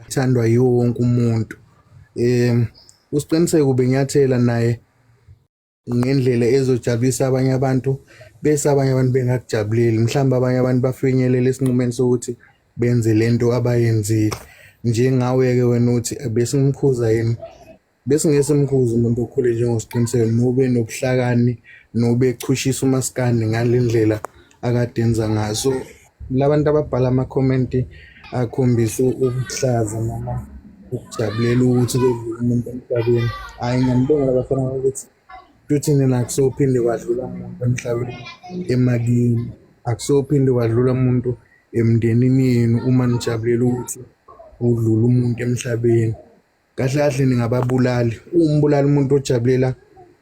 ithandwa yiwo wonke umuntu um usiqiniseko benyathela naye ngendlela ezojabulisa abanye abantu bese abanye abantu bengakujabuleli mhlawumbe abanye abantu bafinyelela esinqumeni sokuthi benze lento abayenzile njengawe-ke wena uthi besimkhuza yini Besingesemkhuza umuntu okhule njengosiqiniseko nobe nobuhlakani nobe echushisa umaskandi ngale ndlela akade enza ngaso. Labantu ababhala amakhomenti akhombisa ukuhlaza noma ukujabulela ukuthi kwedlule umuntu emhlabeni. Hhayi ngiyambonga labafana ukuthi futhi nina akusophinde kwadlula muntu emhlabeni emakini. Akusophinde kwadlula muntu emndenini yenu uma nijabulela ukuthi udlule umuntu emhlabeni. kahle kahle ningababulali umbulala umuntu ojabulela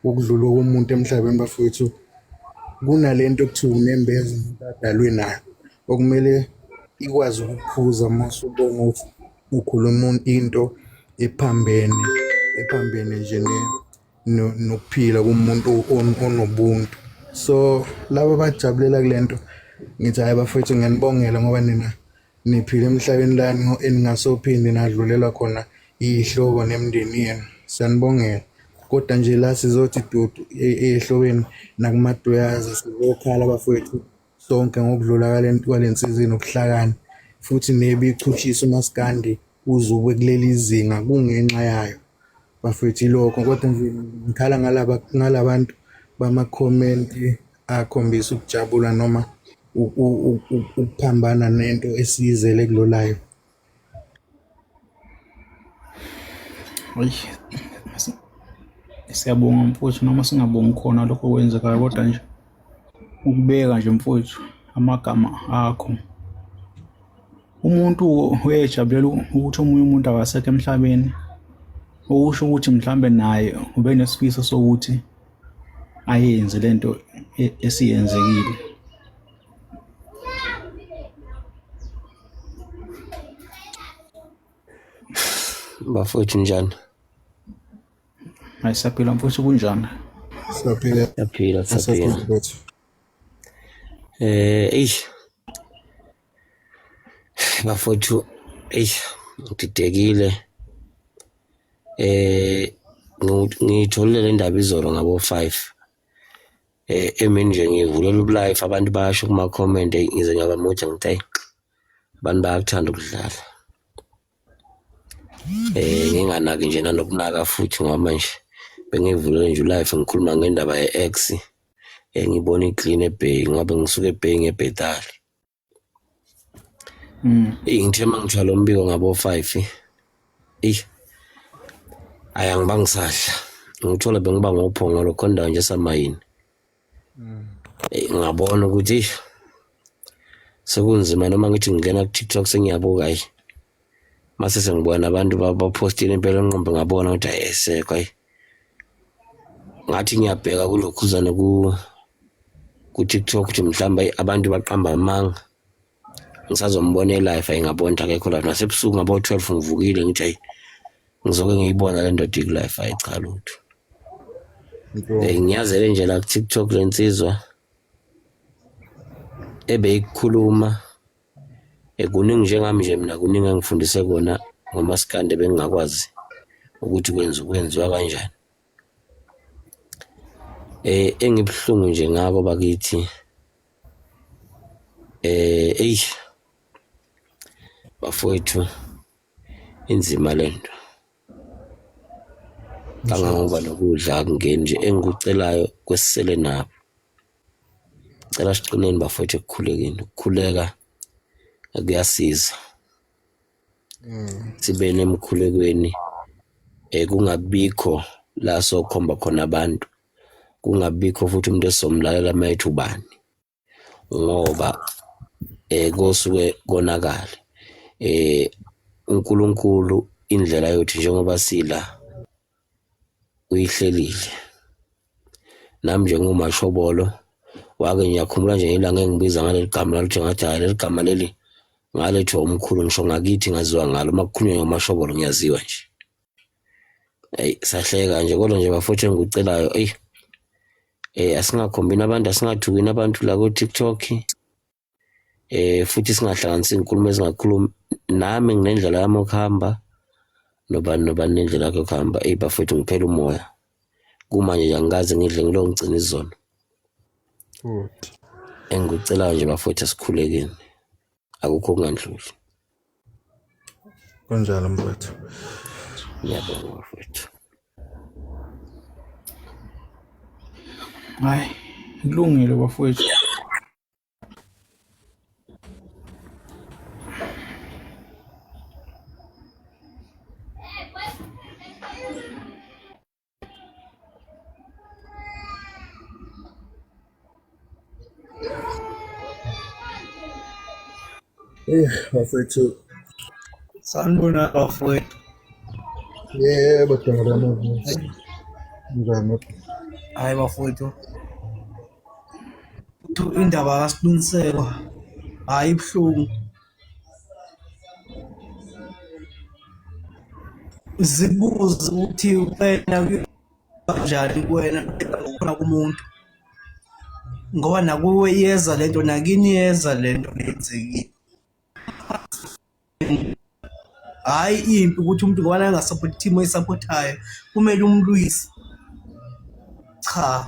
ukudlula komuntu emhlabeni bafowethu kunalento okuthiwa unembeza umuntu adalwe nayo okumele ikwazi ukukhuza uma usubona ukuthi ukhuluma into ephambene ephambene nje nokuphila kumuntu onobuntu so laba abajabulela kule nto ngithi hhayi bafowethu ngiyanibongela ngoba nina Niphile emhlabeni lani eningasophinde nadlulelwa khona iy'hlobo nemindeni yenu. Siyanibongela. Kodwa nje la sizothi dudu e- ehlobeni nakumaduyaza sizokhala bafowethu sonke ngokudlula kwale- kwale nsizwa enobuhlakani futhi nebichushisa umaskandi uze ube kuleli zinga kungenxa yayo. Bafethu ilokho kodwa nje ngikhala ngalaba ngalabantu bama comment akhombisa ukujabula noma ukuphambana nento esiyizele kulolayo. Oy. Siyabonga mfowethu noma singabongi khona lokho kwenzekayo kodwa nje ukubeka nje mfowethu amagama akho umuntu uyejabulela ukuthi omunye umuntu akasekho emhlabeni okusho ukuthi mhlawumbe naye ube nesifiso sokuthi ayenze lento e-, esiyenzekile bafowethu njani ayisaphila mfowethu kunjani siyaphila siyaphila siyaphila eh eish Bafowethu eyi ngididekile eh ngitholile le ndaba izolo ngabo 5 eh emini nje ngivulela ubulife abantu basho kuma comment ngize ngaba mude ngithi ayi abantu bayakuthanda ukudlala eh nginganaki nje nanokunaka futhi ngoba manje bengivulele nje ulife ngikhuluma ngendaba ye-ex engibona eh, iclean ebheki ngoba ngisuke ebheki ngebhetali Mm. Eyi ngithe uma ngithwala umbiko ngabo-five eyi ayi angiba ngisadla ngithole bengiba ngophongolo khona ndawo nje esamayini mm. eyi ngabona ukuthi sekunzima noma ngithi ngingena ku-tiktok sengiyabuka ayi mase sengibona abantu bapostile impela onqombe ngabona ukuthi ayesekho ayi ngathi ngiyabheka kulokhuzane ku ku TikTok ukuthi mhlawumbe abantu baqamba amanga ngisazombona elife ayingabona ukuthi akekho lapho nasebusuku ngabo 12 ngivukile ngithi ayi ngizoke ngiyibona le ndoda ikulife ayi cha lutho eh, ngiyazele nje la ku TikTok lensizwa ebeyikhuluma Eh, kuningi njengami nje mina kuningi engifundise kona ngomaskande bengingakwazi ukuthi kwenza kwenziwa kanjani eh engibuhlungu nje ngako bakithi eh ey bafowethu inzima lento kangangoba nokudla akungeni nje engikucelayo kwesisele nabo cela siqineni bafowethu ekukhulekeni ukukhuleka kuyasiza mm. sibe nemkhulekweni eh kungabikho la sokhomba khona abantu kungabikho futhi umuntu esomlalela mayethu ubani ngoba eh kosuke konakala eh uNkulunkulu indlela yethu njengoba sila uyihlelile nami njengomashobolo wake ngiyakhumbula nje ilanga engibiza ngaleli gama laluthi ngathi hayi leli gama leli ngalethwa umkhulu ngisho ngakithi ngaziwa ngalo uma kukhulunywa ngamashobolo ngiyaziwa nje eyi sahleka nje kodwa nje bafuthu engikucelayo eyi eh asingakhombini abantu asingathukini abantu la ku-tiktok eh futhi singahlanganisi izinkulumo ezingakhulumi nami nginendlela yami okuhamba nobani nobani nendlela yakhe okuhamba eyi bafethu ngiphela umoya kumanje nje angikaze ngidle ngilo ngigcina izona engikucelayo nje bafethu asikhulekeni akukho okungandluli Kunjalo mfowethu. Ngiyabonga mfowethu. Hayi, kulungile bafowethu. Eh, bafethu. Sanibona bafethu. Yebo, dala mavusi. Njani? Hayi bafethu. Indaba kaSilungiselwa hayi ibuhlungu. zibuze ukuthi wena kanjani kuwena khona kumuntu ngoba nakuwe iyeza lento nakini iyeza lento lenzekile hayi impi ukuthi umuntu ngoba angasapoti team oyisapothayo kumele umlwise cha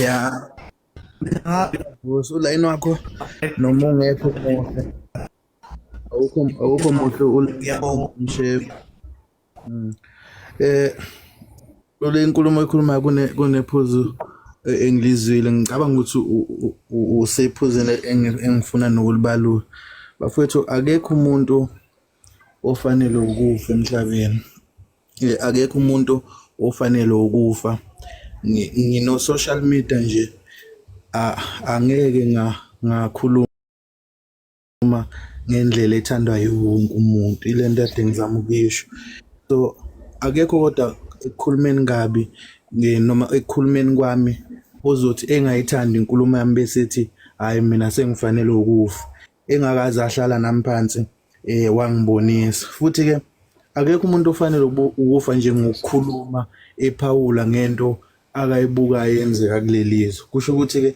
ya vusa ulayini wakho noma ungekho muhle awukho awukho muhle uyabonga mshefu hmm. eh lole inkulumo ekhuluma kune kunephuzu eh, engilizwile ngicabanga ukuthi usephuzile engifuna nokulibalula bafowethu akekho umuntu ofanele ukufa emhlabeni Eh, akekho umuntu ofanele ukufa ngino social media nje angeke ngakhuluma ngendlela ethandwa yiwonke umuntu ilento ade ngizama ukuyisho so akekho kodwa ekukhulumeni kabi noma ekukhulumeni kwami ozothi engayithandi inkulumo yami bese ethi hhayi mina sengifanele ukufa engakaze ahlala nami phansi eh wangibonisa futhi ke akekho umuntu ofanele ukufa nje ngokukhuluma ephawula ngento akayibukayo yenzeka kulelizwe kusho ukuthi ke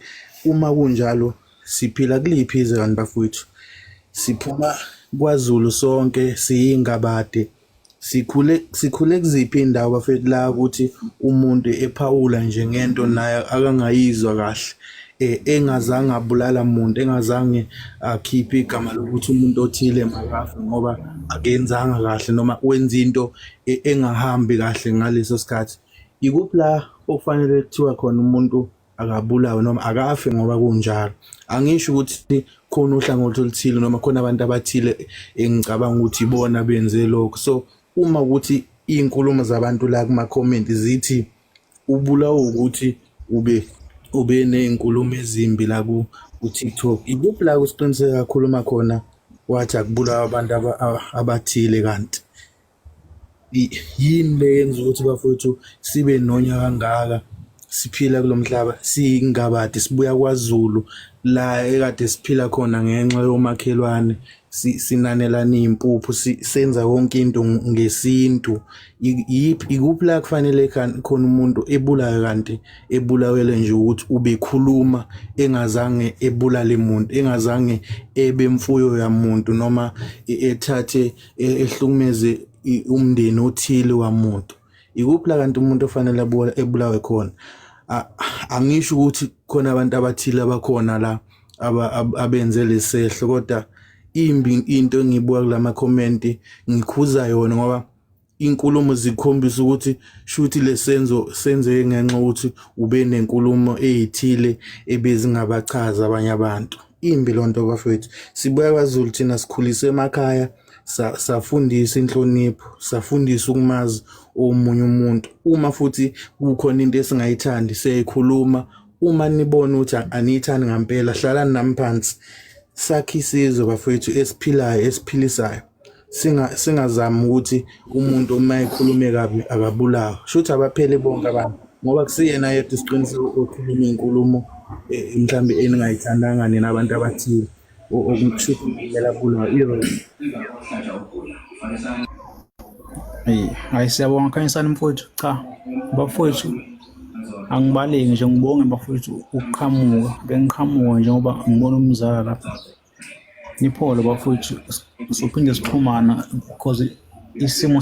uma kunjalo siphila kuliphi izwe kanti bafowethu siphuma kwaZulu sonke siyingabade Sikhule sikhule kuziphi indawo bafethu la ukuthi umuntu ephawula nje ngento naye akangayizwa kahle eh, engazange abulala muntu engazange akhiphe igama lokuthi umuntu othile makafe ngoba akenzanga kahle noma wenza into e-, engahambi kahle ngaleso sikhathi ikuphi la okufanele kuthiwa khona umuntu akabulawe noma akafe ngoba kunjalo angisho ukuthi khona uhlangothi oluthile noma khona abantu abathile engicabanga ukuthi ibona benze lokho so uma ukuthi inkulumo zabantu la kuma comment zithi ubulawa ukuthi ube ube nezinkulumo ezimbi la ku TikTok ikuphi la kusiqiniseka kakhulu uma khona wathi akubulawa abantu abathile kanti yini le yenza ukuthi bafowethu sibe nonya kangaka siphila kulo mhlaba siyingabadi sibuya kwaZulu la ekade siphila khona ngenxa yomakhelwane sinanelana impuphu senza konke into ngesintu yiphi ikuphi la kufanele khona umuntu ebulawe kanti ebulawele nje ukuthi ubekhuluma engazange ebulale muntu engazange ebe mfuyo yamuntu noma e-, ethathe e-, ehlukumeze umndeni othile wamuntu ikuphi la kanti umuntu ofanele ebulawe khona angisho ukuthi khona abantu abathile abakhona la abenze lesehlo kodwa imbi into engiyibuka kulama comment ngikhuza yona ngoba inkulumo zikhombisa ukuthi shuthi lesenzo senzeke ngenxa ukuthi ube nenkulumo ezithile ebezingabachaza abanye abantu Imbi loo nto bafethu sibuya kwazulu thina sikhulise emakhaya safundisa inhlonipho safundisa ukumazi omunye umuntu uma futhi kukhona into esingayithandi siyayikhuluma uma nibona ukuthi aniyithandi ngampela hlalani nami phansi sakhe isizwe bafethu esiphilayo esiphilisayo singa singazami ukuthi umuntu uma ekhulume kabi akabulawa shuthi abapheli bonke abantu ngoba kusiyena yedwa isiqiniseko okhuluma inkulumo eh, mhlambe eningayithandanga nina abantu abathile okushuthi kumele abulawe iro Eyi, hhayi siyabonga Khanyisani mfowethu. Cha, bafowethu angibaleki nje ngibonge bafowethu ukuqhamuka. Bengiqhamuka njengoba ngibona umzala lapha. Niphole bafowethu sophinde sixhumana because isimo